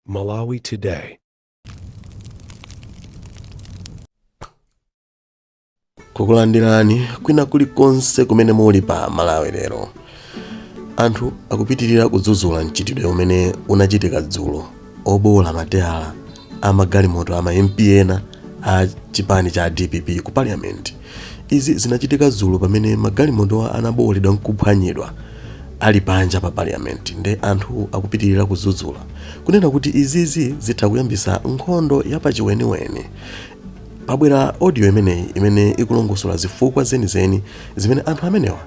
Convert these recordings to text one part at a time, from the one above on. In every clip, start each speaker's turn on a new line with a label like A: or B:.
A: Malawi Today.
B: kukulandirani kwina kulikonse kumene muli pa malawi lero anthu akupitirira kudzudzula mchitidwe umene unachitika dzulo obowola mateyala a magalimoto a ma mp ena a chipani cha dpp ku parliament izi zinachitika dzulo pamene magalimotowa anabowoledwa nkuphwanyidwa ali panja pa parliament nde anthu akupitirira kudzudzula kunena kuti izizi zitha kuyambisa nkhondo yapachiweniweni pabwera audio imeneyi imene ikulongosola zifukwa zenizeni zimene anthu amenewa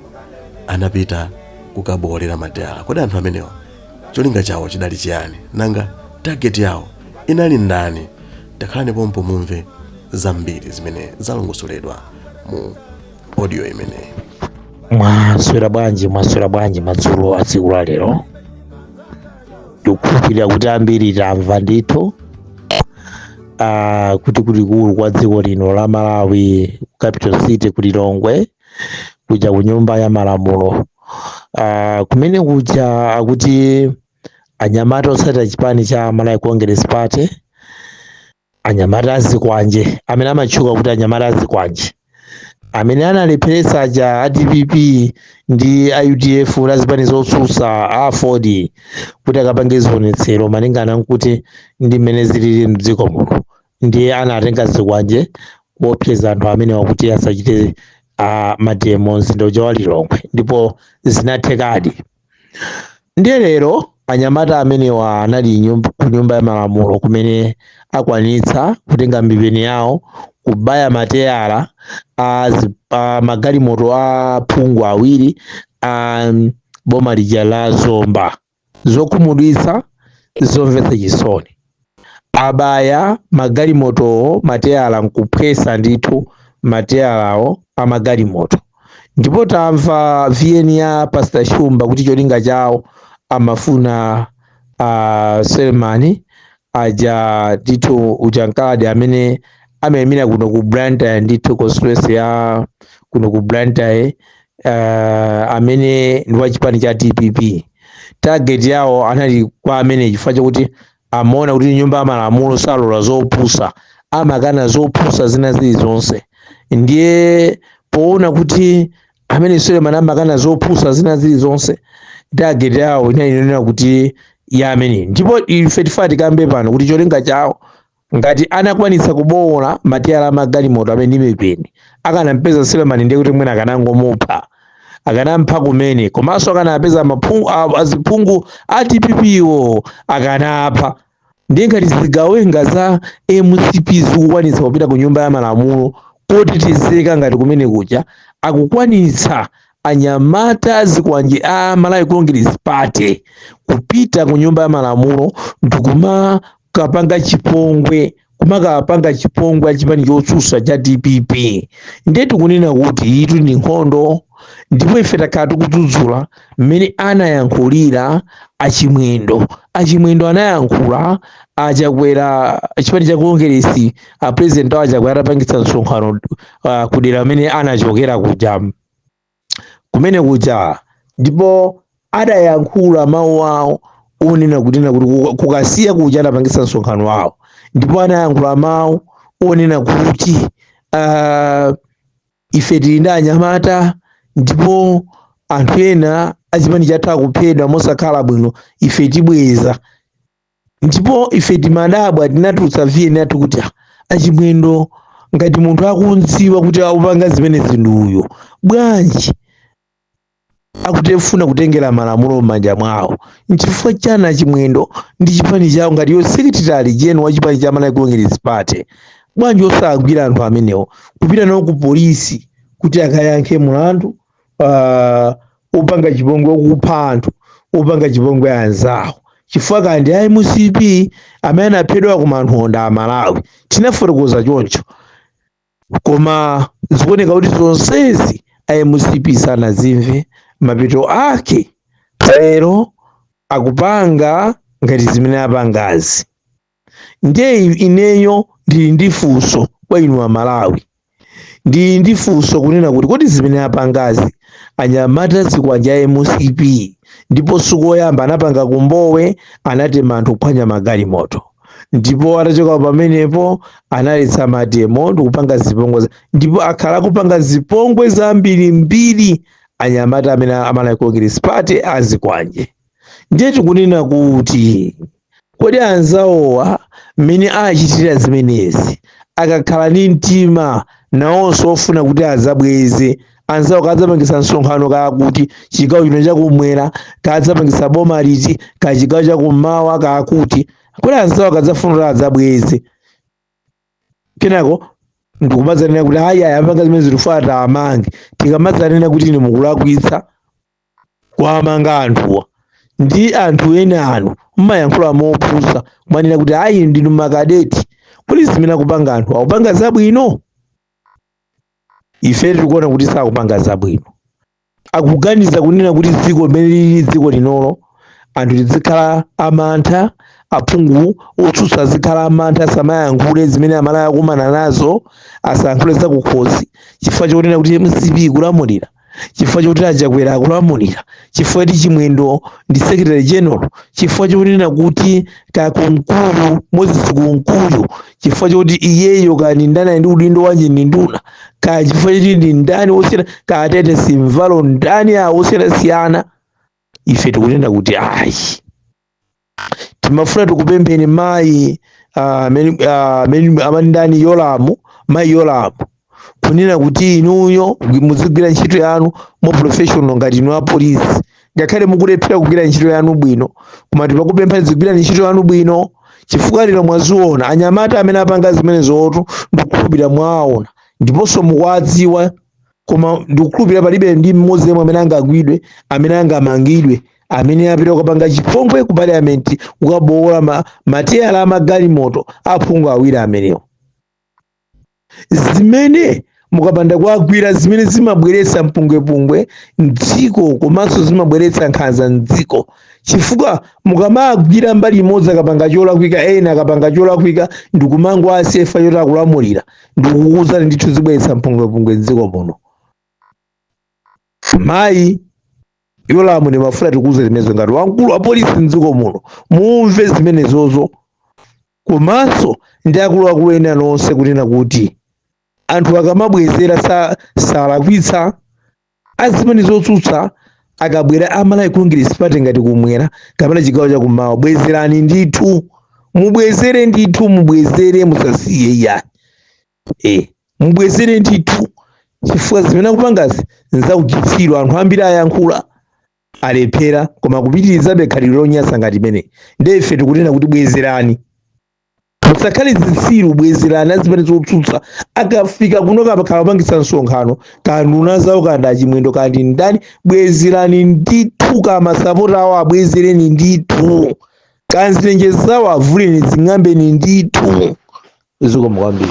B: anapita kukabowolera mateyala kodi anthu amenewa Cholinga chawo chidali chiyani? Nanga target yawo inali ndani? Takhalani pompo mumve zambiri zimene zalongosoledwa mu audio imeneyi. mwaswera
C: bwanji mwaswera bwanji madzulo a tsiku la lero ndikukhulupirira kuti ambiri tamva ndithu ah, kuti kulikulu kwa dziko lino la malawi capital city ku lilongwe kuja ku nyumba ya malamulo uh, kumene kuja akuti anyamata otsatira chipani cha malawi congress party anyamata azikwanje amene amatchuka kuti anyamata azikwanje amene analepheretsa ja a dpp ndi a udf la zipani zotsutsa a aford kuti akapange zionetsero malingana nkuti ndi mmene zilili mdziko muno ndiye anatenga zikwanje kuopseza anthu amenewa kuti asachite uh, mademo mzinda uja wa lilongwe ndipo zinathekadi ndiye lero anyamata amenewa anali ku nyumba ya malamulo kumene akwanitsa kutenga mipeni yawo kubaya mateyala a magalimoto a phungu awiri a boma lija la zomba zokhumudwitsa zomvetsa chisoni abaya magalimotowo mateyala nkuphwesa ndithu mateyalawo amagalimoto ndipo tamva vn ya pastor shumba kuti cholinga chawo amafuna uh, suleman aja ndithu ujankadi amene amayimira kuno ku blantyre ndithu constituency ya kuno ku blantyre uh, amene ndi wa chipani cha dpp target yawo anali kwa amene chifukwa chakuti amaona kuti nyumba ya malamulo salola zopusa amakana zopusa zina zilizonse ndiye poona kuti amene suleman amakana zopusa zina zilizonse target yawo inali inonena kuti ya amene ndipo ife tifuna tikambe pano kuti cholinga chawo ngati anakwanitsa kubowola mateyala a magalimoto amenewa ndi mipeni akanampeza Suleman ndiye kuti mwina akanangomupha akanampha kumene komanso akanapeza maphungu a- aziphungu a dpp-wo akanapha ndiye ngati zigawenga za mcp zikukwanitsa kupita ku nyumba ya malamulo kotetezeka ngati kumene kuja akukwanitsa anyamata a zikwanje a malawi congress party kupita ku nyumba ya malamulo ndikuma kapanga chipongwe kumakapanga chipongwe achipani chotsutsa cha dpp ndiye tikunena kuti iyitu ndi nkhondo ndipo ife takhala tikudzudzula mmene anayankhulira achimwendo achimwendo anayankhula achakwera chipani cha kongeresi a president awo achakwera atapangitsa msonkhano uh, kudera kumene anachokera kuja kumene kuja ndipo adayankhula mawu awo onena kunena kuti kuka- ku Kasiya kuja atapangitsa msonkhano wawo ndipo anayankhula mawu onena kuti uh, ife tili ndi anyamata ndipo anthu ena achipani chathu akuphedwa mosakhala bwino ife tibweza ndipo ife timadabwa tinatulutsa VN yathu kuti ah, achimwendo ngati munthu akumudziwa kuti akupanga zimenezi ndi uyo bwanji akufuna kutengera malamulo m'manja mwawo nchifukwa chani achimwendo ndi chipani chawo ngati iwo secretary gen wa chipani cha malawi congress party bwanji osagwira anthu amenewo kupita nawo ku polisi kuti akayankhe mulandu uh, opanga chipongwe okupha anthu opanga chipongwe anzawo chifukwa ka ndi a mcp amene anaphedwa koma anthu okonda a malawi tinafotokoza choncho koma zikuoneka kuti zonsezi a mcp sanazimve mapeto ake lero akupanga ngati zimene apangazi ndiye ineyo ndili ndi funso kwa inu amalawi ndili ndi funso kunena kuti kodi zimene apangazi anyamata a zikwanje a mcp ndipo sikoyamba anapanga ku Mbowe anatema anthu kuphwanya magalimoto ndipo atachoka pamenepo analetsa mademo ndikupanga zipongwe za- ndipo akhala akupanga zipongwe zambirimbiri anyamata amenewa a malawi congress party azikwanje ndiye tikunena kuti Kodi anzawowa mmene achitira zimenezi, akakhala ndi mtima nawonso wofuna kuti adzabweze? Anzawo kaya adzapangitsa msonkhano kaya kuti, chigawo chino chakum'mwera, kaya adzapangitsa boma liti, kaya chigawo chakum'mawa kaya kuti. Kodi anzawo akadzafuna kuti adzabweze, kenako ndikumadzanena kuti ayi ayi apanga zimenezi tifuna tiwamange, tikamadzanena kuti inu mukulakwitsa, kuwamanga anthuwa ndi anthu ena anu mmayankhula mopusa kumanena kuti ayi ndinu makadeti kodi zimene akupanga anthu akupanga zabwino ife tikuona kuti sakupanga zabwino akuganiza kunena kuti dziko limene lili dziko linolo anthu tizikhala amantha aphungu otsutsa azikhala amantha asamayankhule zimene amalawi akumana nazo asayankhule zakukhosi chifukwa chonena kuti mcp ikulamulira chifukwa chokuti achakwera akulamulira chifukwa choti chimwendo ndi secretary general chifukwa chokunena kuti kunkuyu moses kunkuyu chifukwa chokuti iyeyo kaya ndani ali ndi udindo wanji ndi nduna kaya chifukwa choti ndi ndani wosiyana kaya atitus mvalo ndani awo osiyanasiyana ife tikunena kuti ayi timafuna tikupempheni mayi ah, amene- ah, amene amati ndani yolamu mayi yolamu kunena kuti inuyo muzigwira ntchito yanu mo professional ngati inu apolisi ngakhale mukulephera kugwira ntchito yanu bwino koma tikukupemphani zigwirani ntchito yanu bwino chifukwa lero mwaziona anyamata amene apanga zimenezotu ndikukhulupirira mwaona ndiponso mukuwadziwa koma ndikukhulupirira palibe ndi mmodzi yemwe amene angagwidwe amene angamangidwe amene apita kukapanga chipongwe ku parliament kukabowola ma, mateyala amagalimoto aphungu awiri amenewo zimene mukapanda kuwagwira zimene zimabweretsa mpungwepungwe mdziko komanso zimabweretsa nkhanza mdziko chifukwa mukamagwira mbali imodzi akapanga cholakwika ena akapanga cholakwika ndikumangowasiya chifukwa choti akulamulira ndikukuuzani ndithu zibweretsa mpungwepungwe mdziko muno mayi yolamu timafuna tikuuzeni zimenezo ngati wamkulu wa polisi mdziko muno mumve zimenezozo komanso ndi akuluakulu ena nonse kunena kuti anthu akamabwezera salakwitsa azipani zotsutsa akabwera amalawi congress party ngati kumwera kapena chigawo chakummawa bwezerani ndithu mubwezere ndithu mubwezere musasiye iyayi, mubwezere ndithu chifukwa zimene akupangazi nzauchitsiru anthu ambiri ayankhula alephera koma kupitirizabe khalidwe lonyasa ngati limeneli ndiye ife tikunena kuti bwezerani musakhale zitsiru bwezerani azipani zotsutsa akafika kuno kaya pakhala kupangitsa msonkhano kaya nduna zawo kaya ndi achimwendo kaya ndi ndani bwezerani ndithu kaya masapota awo abwezereni ndithu kaya nzitenje zawo avuleni zing'ambeni ndithu zikomo kwambiri